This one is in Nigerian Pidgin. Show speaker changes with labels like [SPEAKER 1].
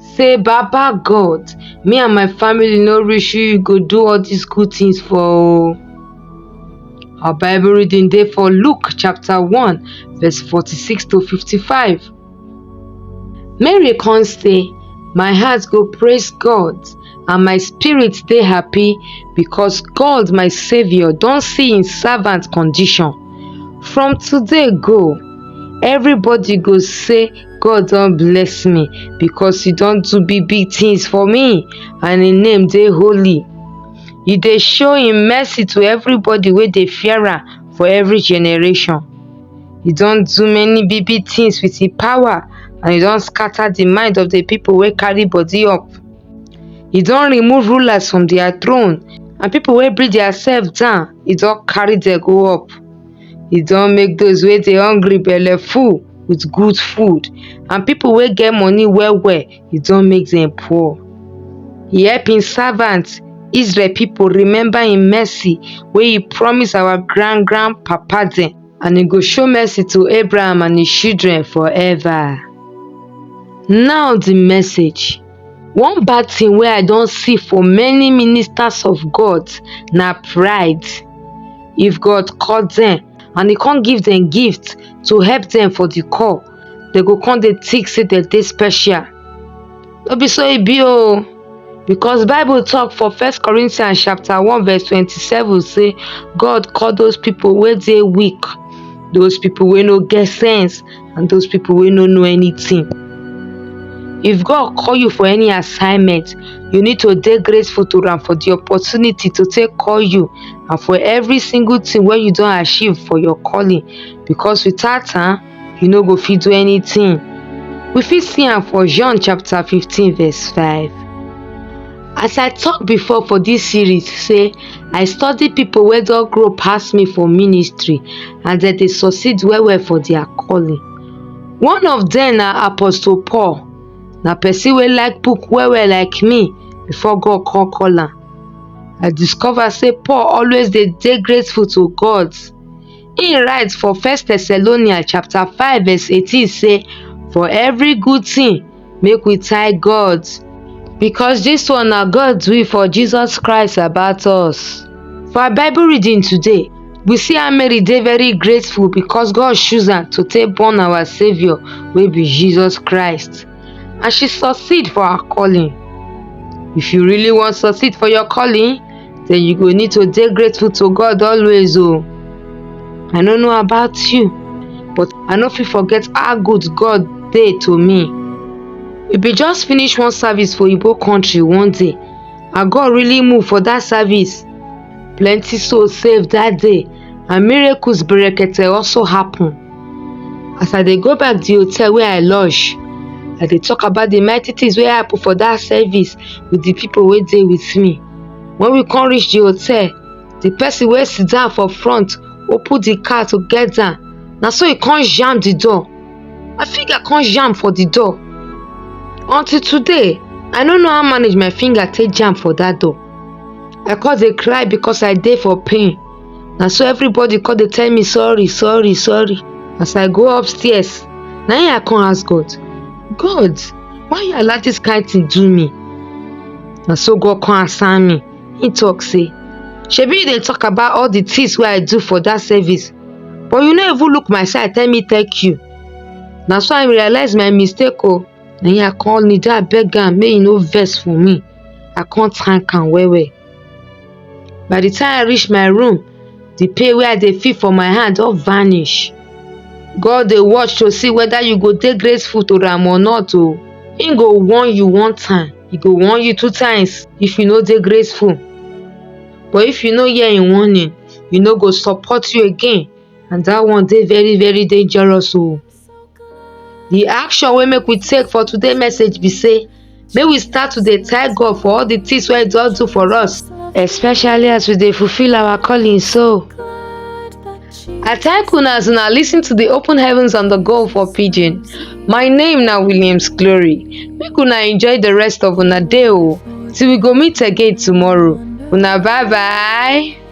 [SPEAKER 1] say baba god me and my family no reach you you go do all dis good tins for o our bible reading dey for luke chapter one verse forty-six to fifty-five mary con say my heart go praise god and my spirit dey happy because god my saviour don see im servant condition from today go everybody go say. God don bless me because he don do big big things for me and him name dey holy. He dey show him mercy to everybody wey dey fear am for every generation. He don do many big big things with him power and he don scatter the mind of the people wey carry body up. He don remove rulers from their throne and people wey bring their self down, he don carry them go up. e don make those wey dey hungry belle full with good food and people wey get money well well e don make them poor e help him servant Israel people remember him mercy wey he promise our grand grand papa dem and he go show mercy to Abraham and his children forever now the message One bad thing wey I don see for many ministers of God na pride. If God call dem and e come give dem gift to help dem for the call, dem go come dey think say dem dey special. No be so e be o. Because Bible talk for First Corinthians chapter one verse twenty-seven say God call those people wey dey weak, those people wey no get sense. and those people wey no know anything. If God call you for any assignment, you need to dey grateful to am for the opportunity to take call you and for every single thing wey you don achieve for your calling because without am, you no go fit do anything. We fit see am for John chapter 15 verse 5. As I talk before for this series say I study people wey don grow pass me for ministry and dem dey succeed well well for their calling. One of them na Apostle Paul, na person wey like book well well like me before God come call am. I discover say Paul always dey dey grateful to God. He write for First Thessalonians chapter 5 verse 18 say for every good thing make we thank God because this one na God's will for Jesus Christ about us. For our Bible reading today, we see how Mary dey very grateful because God choose am to take born our Saviour wey be Jesus Christ and she succeed for her calling. If you really wan succeed for your calling, then you go need to dey grateful to god always o oh. i no know about you but i no fit forget how good god dey to me we bin just finish one service for igbo country one day and god really move for that service plenty souls saved that day and miracles berekete also happen as i dey go back the hotel where i lodge i dey talk about the mighty things wey happen for that service with the people wey dey with me When we come reach the hotel, the person wey sit down for front open the car to get down. Na so he come jam the door. My finger come jam for the door. Until today, I no know how manage my finger take jam for that door. I come dey cry because I dey for pain. na so everybody come dey tell me sorry sorry sorry as i go upstairs na im i come ask god god why you allow dis kind thing do me na so god come answer me he talk say shebi you dey talk about all the things wey i do for that service but you no even look my side tell me thank you na so i realize my mistake o oh. na him i come kneel down beg am make he no vex for me i come thank am well well by the time i reach my room the pain wey i dey feel for my hand don vanish god dey watch to see whether you go dey grateful to am or not o he go warn you one time he go warn you two times if you no dey grateful but if you no hear him warning he no go support you again and that one dey very very dangerous o The action wey make we take for today message be say make we start to dey thank God for all the things wey He don do for us, especially as we dey fulfill our calling. So, I thank una as una listen to the Open Heavens on the Go for Pidgin. My name na Williams Glory. Make una enjoy the rest of una day o till we go meet again tomorrow. Una bye bye.